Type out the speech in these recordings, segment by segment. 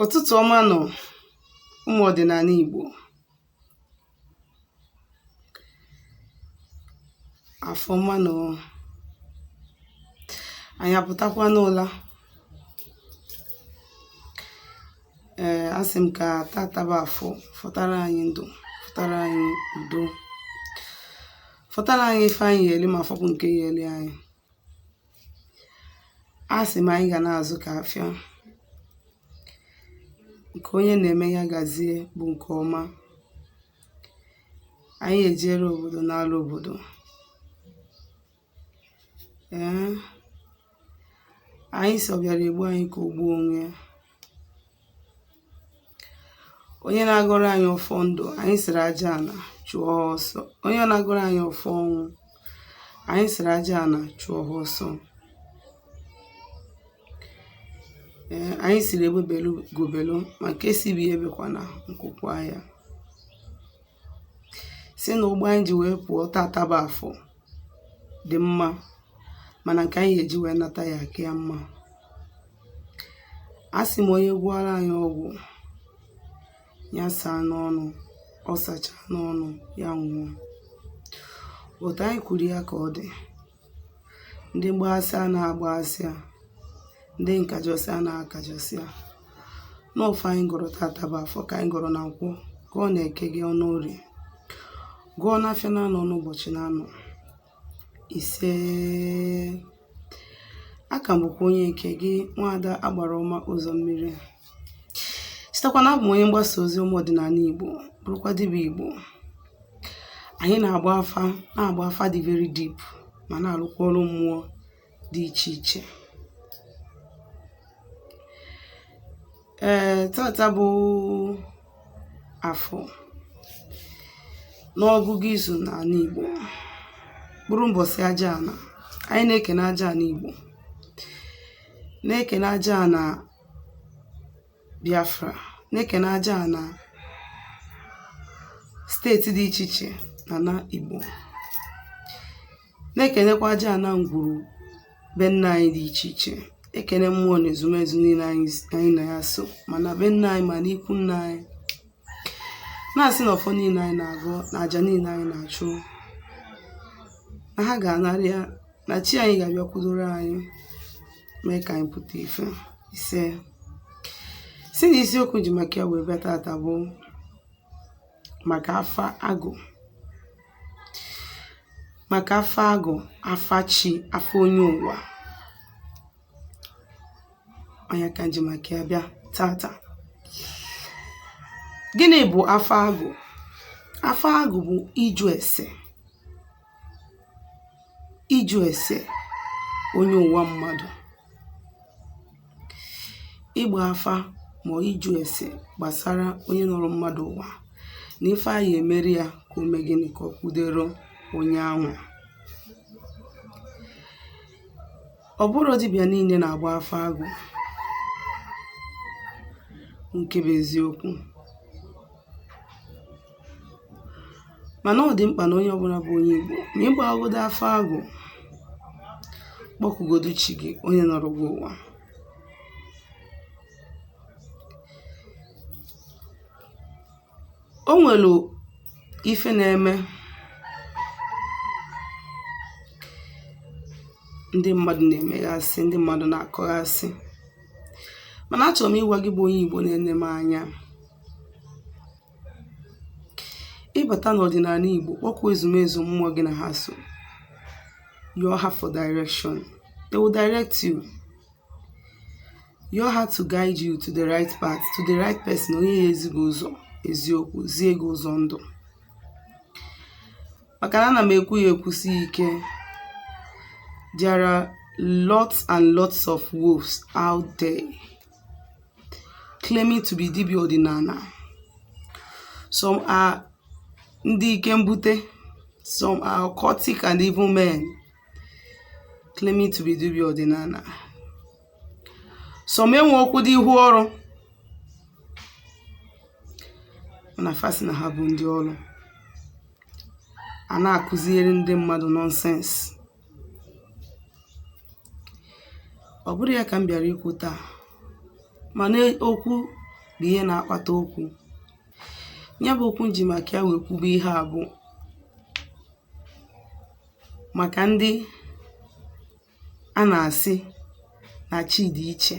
ụ̀tụtụ̀ ọma nụ̀ ụmụ̀ ọ̀dị̀nàna ìgbò afọ ọma nụ̀ anyị apụtakwa n'ụla ee asị m ka tata bụ afọ fọtara anyị ndụ fọtara anyị udo fọtara anyị ife anyị ya-eli ma fọpụ nke ya-eli anyị asị m anyị ga na-azụ ka afịa nke onye na-eme ya gazie bụ nke ọma anyị ejere obodo n'ala obodo ee anyị sị ọ bịara egbu anyị ka o gbuo onwe ya onye na-agọrọ anyị ọfọ ndụ anyị sịrị aja ana chụọ ọsọ onye na-agọrọ anyị ọfọ ọnwụ anyị sịrị aja ana chụọ ha ọsọ ee anyị sịrị egbe belu ugo belu ma nke sị ibe ya ebekwana nku kwaa ya sị na ụgbọ anyị ji wee pụọ tata bụ afọ dị mma mana nke anyị ya-eji wee nata ya-aka ya mma asị m onye gwọọrọ anyị ọgwụ ya saa n'ọnụ ọ sachaa n'ọnụ ya nwụọ otu anyị kwuru ya ka ọ dị ndị mgbaghasị a na-agbaghasị a ndị nkajọsị a na-akajọsị a na ọfọ anyị gọrọ tata bụ afọ ka anyị gọrọ na nkwọ gọọ na eke gọọ na orie gọọ n'afịa naanọ n'ụbọchị naanọ ise aka m bụkwa onye nke gị nwaada agbara ọma ụzọ mmiri sitekwa na abụ m onye mgbasa ozi ụmụ ọdịnana Igbo bụrụkwa dibịa Igbo anyị na-agba afa na-agba afa dị very deep ma na-alụkwa ọrụ mmụọ dị iche iche ee tata bụ afọ n'ọgụgụ izu n'ana Igbo bụrụ mbọsị aja ana anyị na-ekene aja ana Igbo na-ekene aja ana Biafra na-ekene aja ana steeti dị iche iche n'ana Igbo na-ekenekwa aja ana ngwuru be nna anyị dị iche iche ekene mmụọ na ezumezu niine anyị na ya so ma na be nna anyị ma na ikwu nna anyị na-asị na ọfọ niine anyị na-agọ na aja niine anyị na-achụ na ha ga-anara ya na chi anyị ga-abịakwudoro anyị mee ka anyị pụta ife ise sị na isiokwu ji maka ya wee bịa tata bụ maka afa agụ maka afa agụ afa chi afa onye ụwa ọ nya ka m ji maka ya bịa tata gịnị bụ afa agụ afa agụ bụ ịjụ ese ịjụ ese onye ụwa mmadụ ịgba afa ma ịjụ ese gbasara onye nọrọ mmadụ ụwa na ife a ya-emeri ya ka o mee gịnị ka ọ kwudero onye anwa Ọ bụrọ dibịa niile na-agba afa agụ nke bụ eziokwu mana ọ dị mkpa na onye ọbụla bụ onye Igbo ma ị gbaghagodo afa agụ kpọkugodu chi gị onye nọrọ gị ụwa O nwere ife na-eme ndị mmadụ na-emeghasị ndị mmadụ na-akọghasị mana achọrọ m ịgwa gị bụ onye Igbo na-ene m anya ị bata n'ọdịnana Igbo kpọkuo ezumezu mmụọ gị na ha so yọọ ha for direction they will direct you yọọ ha to guide you to the right path to the right person onye ya-ezi gị ụzọ eziokwu zie gị ụzọ ndụ maka na ana m ekwu ya ekwusi ike there are lots and lots of wolves out there claiming to be dibịa ọdịnana some are ndị ike mbute some are occultic and evil men claiming to be dibịa ọdịnana some enwerọkwudị ihu ọrụ mana fa sị na ha bụ ndị ọrụ a na-akụziere ndị mmadụ nonsense ọ bụrọ ya ka m bịara ikwu taa mana okwu bụ ihe na-akpata okwu ya bụ okwu m ji maka ya wee kwube ihe a bụ màkà ndị a nà-àsị nà chi dị̀ ichè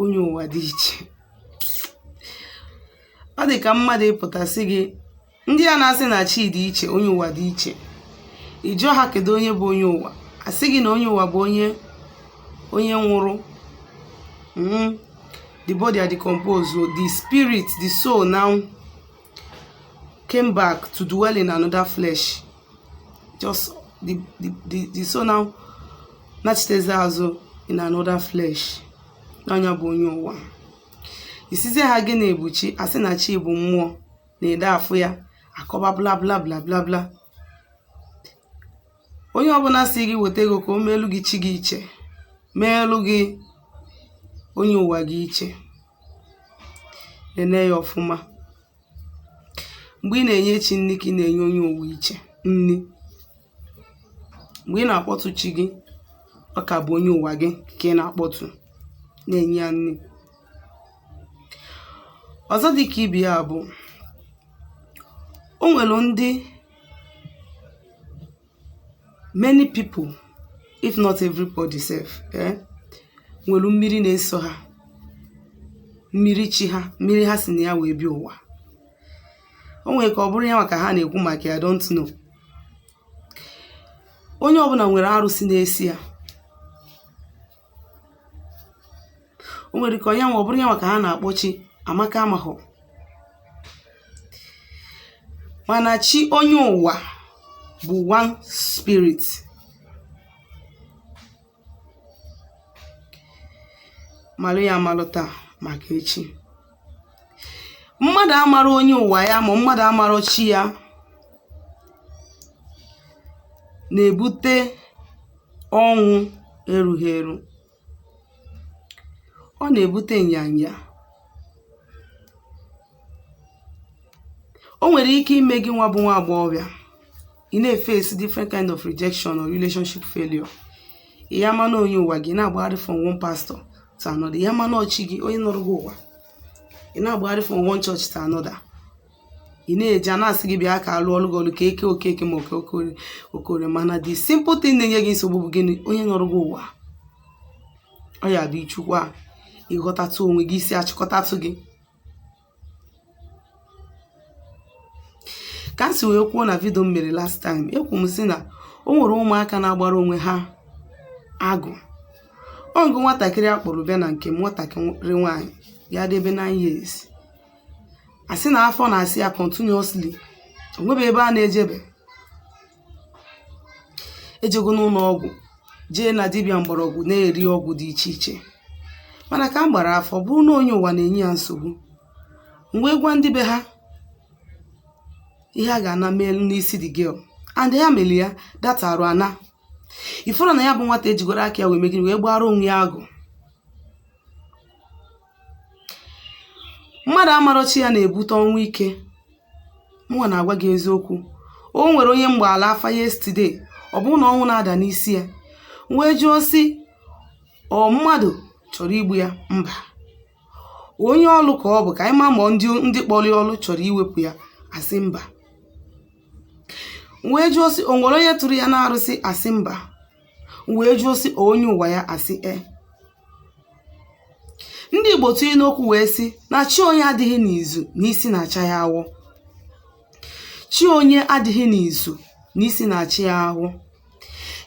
onye ụ̀wà dị ichè ọ dị̀ kà mmadụ̀ ịpụ̀tà sị gị ndị a nà-asị nà chi dị̀ ichè onye ụ̀wà dị ichè ị jụọ ha kèdụ onye bụ onye ụ̀wà à sị gị nà onye ụ̀wà bụ onye onye nwụrụ mm, the body are decomposed o the spirit the soul now came back to dwell in another flesh. Just the, the, the, the soul now nachitezi azụ in another flesh. Na nya bụ onye ụwa. Ị sịzie ha gịnị bụ chi a sị na chi bụ mmụọ na-edu afụ ya akọba bla bla bla bla bla. onye ọbụna sị gị weta ego ka o meelu gị chi gị iche meelu gị onye ụwa gị iche nene ya ọfụma mgbe ị na-enye chi nni ka ị na-enye onye ụwa iche nni mgbe ị na-akpọtụ chi gị ọ ka bụ onye ụwa gị ka ị na-akpọtụ na-enye ya nni ọzọ dị ka ibe ya bụ o nwere ndị many people if not everybody sef eh, nwere mmiri na-eso ha mmiri chi ha mmiri ha si na ya wee bịa ụwa o nwere ike ọ bụrụ ya nwa ka ha na-ekwu maka ya I don't know onye ọbụna nwere arụsị na-eso ya o nwere ike onye nwa ọ bụrụ ya nwa ka ha na-akpọ chi amaka amahụ mana chi onye ụwa bụ one spirit malụ ya amalụ taa maka echi mmadụ amara onye ụwa ya ma mmadụ amara chi ya na-ebute ọnwụ erughị eru ọ na-ebute nyanya o nwere ike ime gị nwa bụ nwa agbọghọbịa ị na-eface different kind of rejection or relationship failure ị ya ama na onye ụwa gị na-agbagharị from one pastor to another ị ya ama na ọ chi gị onye nọrọ gị ụwa ị na-agbagharị from one church to another ị na-eje a na-asị gị bịa ka a lụọlụ gị ọlụ ka eke okeke ma oke okore okore mana the simple thing na-enye gị nsogbu bụ gịnị onye nọrọ gị ụwa ọ ya bụ ị chọkwa ịghọtatụ onwe gị isi achịkọtatụ gị ka m si wee kwuo na video m mere last time ekwu m sị na o nwere ụmụaka na-agbara onwe ha agụ o nwego nwatakịrị a kpọrọ bịa na nke m nwatakịrị nwaanyị ya-adị ebe 9 years a sị na afọ na-asa ya continuously o nwebe ebe a na-ejebe ejego n'ụlọ ọgwụ jee na dibịa mgbọrọgwụ na-eri ọgwụ dị iche iche mana ka m gbara afa ọ bụrụ na onye ụwa na-enye ya nsogbu m wee gwa ndị be ha ihe ha ga-ana meelu n'isi the girl and ha mere ya that arụ ana ị fụrụ na ya bụ nwata ejigoro aka ya wee mee gịnị wee gbara onwe ya agụ mmadụ̀ amarọ chi ya na-ebute ọnwụ ike mụnwa na-agwa gị eziokwu o nwere onye m gbaalụ afa yesterday ọ bụrụ na ọnwụ na-ada n'isi ya m wee jụọ sị ọ mmadụ chọrọ igbu ya mba onye ọlụ ka ọ bụ ka anyị ma ma ndị ndị kpọrọ ya ọlụ chọrọ iwepụ ya a sị mba m wee jụọ sị o nwere onye tụrụ ya n'arụsị a sị mba m wee jụọ sị ọ onye ụwa ya a sị e ndị igbo tụrụ inu okwu wee sị na chi onye adịghị n'izu na isi na-acha ya awọ chi onye adịghị n'izu na isi na-acha ya awọ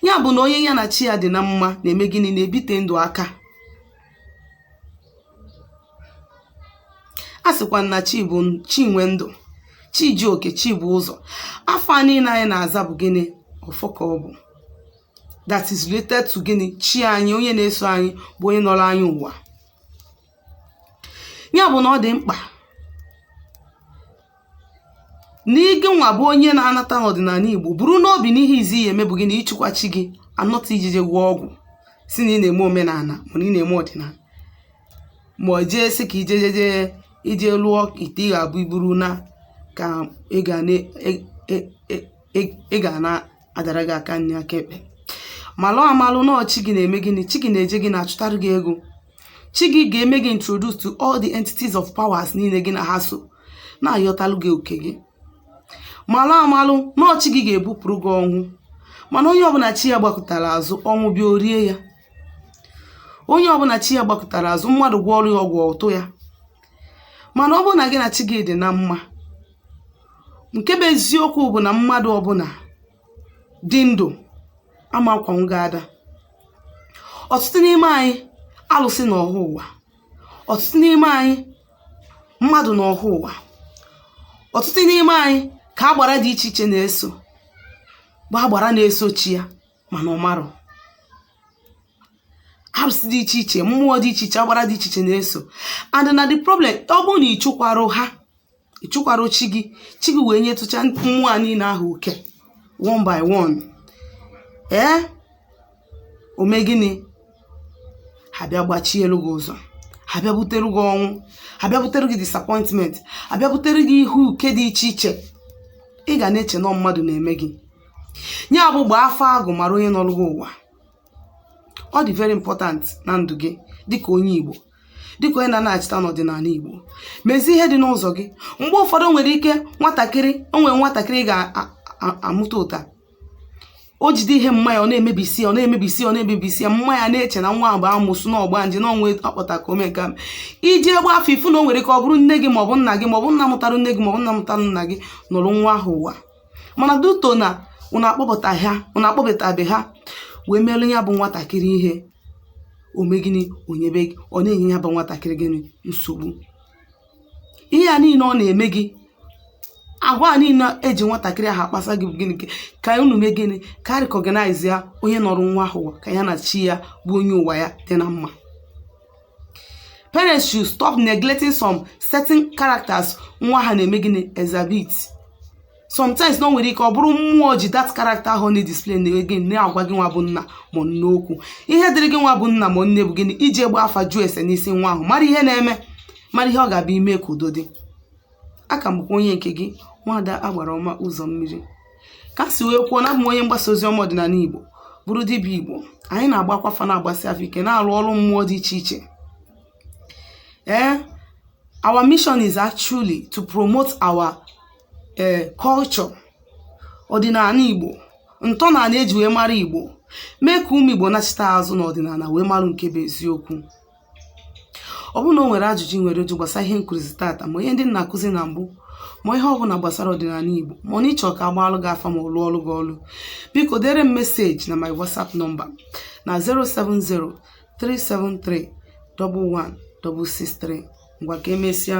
ya bụ na onye ya na chi ya dị na mma na-eme gịnị na-ebite ndụ aka a sịkwa na chi bụ chi nwe ndụ chi ji oke chi bụ ụzọ afa niile anyị na-aza bụ gịnị ọfọ ka ọ bụ that is related to gịnị chi anyị onye na-eso anyị bụ onye nọrọ anyị ụwa ya bụ na ọ dị mkpa na gịnwa bụ onye na-anata n'ọdịnala Igbo buru n'obi na ihe izizi ị ya-eme bụ gịnị ịchụkwa chi gị and not ije je gwọ ọgwụ sị na ị na-eme omenala mana ị na-eme ọdịnala ma ọ jee sị ka ije jeje ije lụọ ite ị ga-abụ iburu na ka ego na e- e- e- e- ego na-adara gị aka nri aka ekpe malụ amalụ na ọ chi gị na-eme gịnị chi gị na-eje gị na-achụtara gị ego chi gị ga-eme gị introduce to all the entities of powers niile gị na ha so na-ayọtalụ gị oke gị malụ amalụ na ọ chi gị ga-ebupụrụ gị ọnwụ mana onye ọbụla chi ya gbakụtara azụ ọnwụ bịa o rie ya onye ọbụla chi ya gbakụtara azụ mmadụ gwọọrụ ya ọgwụ ọ tụ ya mana ọ bụrụ na gị na chi gị dị na mma nke bụ eziokwu bụ na mmadụ ọbụla dị ndụ ama akwanwu gị ada ọtụtụ n'ime anyị alụsị nọ ha ụwa ọtụtụ n'ime anyị mmadụ nọ ha ụwa ọtụtụ n'ime anyị ka agbara dị iche iche na-eso bụ agbara na-eso chi ya mana ọ marọ arụsị dị iche iche mmụọ dị iche iche agbara dị iche iche na-eso and na the problem ọ bụrụ na ị chụkwarọ ha ị chụkwarọ chi gị chi gị wee nyetụcha mmụọ niile ahụ oke one by one ee o mee gịnị ha bịa gbachielu gị ụzọ ha bịa butere gị ọnwụ ha bịa butere gị disappointment ha bịa butere gị ihe uke dị iche iche ị ga na-eche na mmadụ na-eme gị ya bụ gbaa afa agụ mara onye nọrụ gị ụwa ọ dị very important na ndụ gị dịka onye Igbo dịka onye na-anachita n'ọdịnala Igbo mezie ihe dị n'ụzọ gị mgbe ụfọdụ nwere ike nwatakịrị o nwere nwatakịrị ga-amụta ụta o jide ihe mma ya ọ na-emebisi ọ na-emebisi ọ na-emebisi ya mma ya na-eche na nwa a bụ amosu na ọgbanje na ọnwa akpọta ka ome ka i je gbaa afa ị fụ na o nwere ike ọ bụrụ nne gị maọbụ nna gị maọbụ nna mụtara nne gị maọbụ nna mụtara nna gị nọrọ nwa ahụ ụwa mana due to na unu akpọpụta ha unu akpọpụtabe ha wee merụ ya bụ nwatakịrị ihe o mee gịnị o nyebe gị ọ na-enye ya bụ nwatakịrị gịnị nsogbu ihe a niile ọ na-eme gị agwa a niile eji nwatakịrị ahụ akpasa gị bụ gịnị ka- ka unu mee gịnị ka a recognize ya onye nọrọ nwa ahụ ụwa ka ya na chi ya bụ onye ụwa ya dị na mma parents should stop neglecting some certain characters nwa ha na-eme gịnị exhibit sometimes na o nwere ike ọ bụrụ mmụọ ji that character ahụ na-edisplay na gị na-agwa gị nwa bụ nna ma nne okwu ihe dịrị gị nwa bụ nna ma nne bụ gịnị ije gbaa afa jụọ ese n'isi nwa ahụ mara ihe na-eme mara ihe ọ ga-abụ i mee ka udo dị a ka m bụkwa onye nke gị nwaada agbara ọma ụzọ mmiri ka si wee kwuo na abụ m onye mgbasa ozi ọma ọdịnala igbo bụrụ dibịa igbo anyị na-agbakwa afa na-agbasi afa ike na-alụ ọrụ mmụọ dị iche iche ee our mission is actually to promote our eh, culture ọdịnala igbo ntọala eji wee mara igbo mee ka ụmụ igbo nachita azụ n'ọdịnala wee mara nke bụ eziokwu ọ bụrụ na o nwere ajụjụ ị nwere ịjụ gbasara ihe nkụzi tata ma ihe ndị m na-akụzi na mbụ ma ihe ọ bụla gbasara ọdịnala Igbo ma na ị chọọ ka a gbaalụ gị afa ma ọ lụọlụ gị ọlụ biko dere m meseji na my WhatsApp nọmba na 07037311663 ngwa ka emesịa